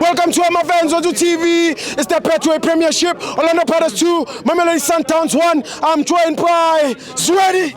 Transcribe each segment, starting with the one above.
Welcome to my fans on TV. It's the Petway Premiership. Orlando Pirates 2, Mamelodi Sundowns 1. I'm joined by Sweaty.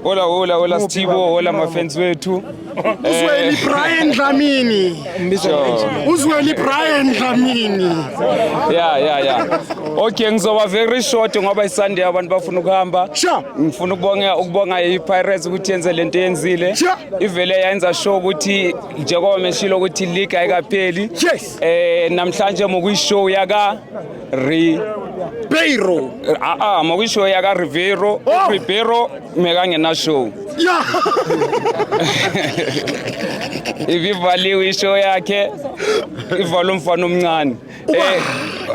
Hola, hola, hola Stibo, hola mafans wethu. Uzweli eh. Brian Dlamini. Uzweli Brian Dlamini. Yeah, yeah, yeah. Okay, ngizoba very short ngoba iSunday abantu bafuna ukuhamba. Ngifuna ukubonga ukubonga iPirates ukuthi yenze lento yenzile. ivele yayenza sure ukuthi njengoba meshilo ukuthi league ayikapheli yes. eh namhlanje mokuyishow yaka re Ribeiro ah ah mokuyishow yaka Ribeiro oh. Ribeiro mekangena show yeah. ibivaliwe ishow yakhe ivala umfana omncane Eh,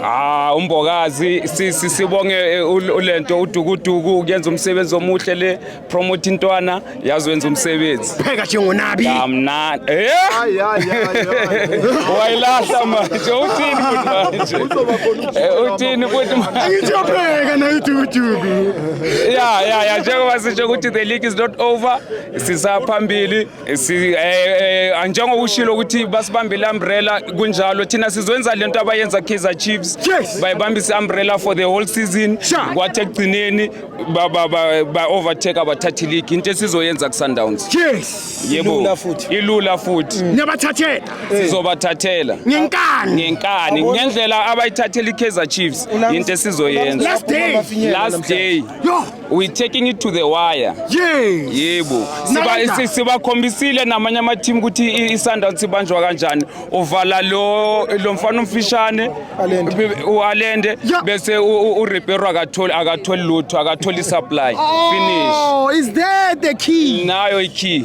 ah umbokazi sisi sibonge eh, ulento udukuduku kuyenza umsebenzi omuhle le promote intwana yazi wenza umsebenzi pheka nje ngonabi amna eh hayi hayi wayilahla manje uthini futhi manje eh, uthini futhi manje angithi uyapheka na udukuduku ya ya ya njengoba sisho ukuthi the league is not over sisaphambili si eh, eh njengokushilo ukuthi basibambile umbrella kunjalo thina sizwenza lento abayenza Kaizer Chiefs bayibambise umbrella for the whole season kwathi ekugcineni ba ba ba overtake abathathi league into esizoyenza ku Sundowns yes yebo futhi ilula futhi mm. niyabathathela eh. sizobathathela ngenkani ngenkani ngendlela abayithathela iKaizer Chiefs into esizoyenza last day last day we taking it to the wire yes yebo siba sibakhombisile namanye ama team ukuthi isundowns sibanjwa kanjani uvala lo lo mfana umfishane ualende bese urepair akatholi akatholi lutho akatholi supply oh, finish oh is that the key nayo i key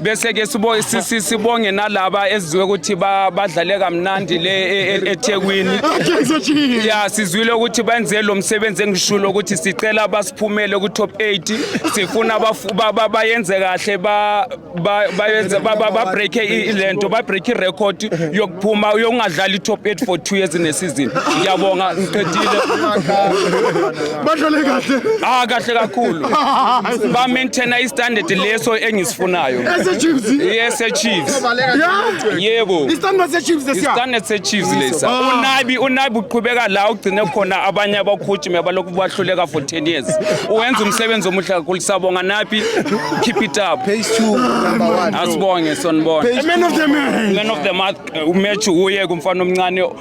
bese ke sibo sibonge nalaba ezizwe ukuthi badlale kamnandi le e, e, eThekwini ya sizwile ukuthi benze lo msebenzi engishulo ukuthi sicela basiphumele ku top 8 sifuna bayenze kahle ba bayenze ba break ilento ba break record yokuphuma yokungadlali top 8 for 2 years in a season ngiyabonga ngiqedile badlale kahle ah kahle kakhulu ba maintain i standard leso engisifunayo ese chiefs yes e chiefs yebo i standard se chiefs lesi standard se chiefs lesa ah. unabi unabi uqhubeka la ugcine khona abanye abakhutshi mebalokhu bahluleka for 10 years uwenza umsebenzi omuhle kakhulu sabonga nabi keep it up page 2 number 1 asibonge sonibona man of the man man of the match uh, uye kumfana omncane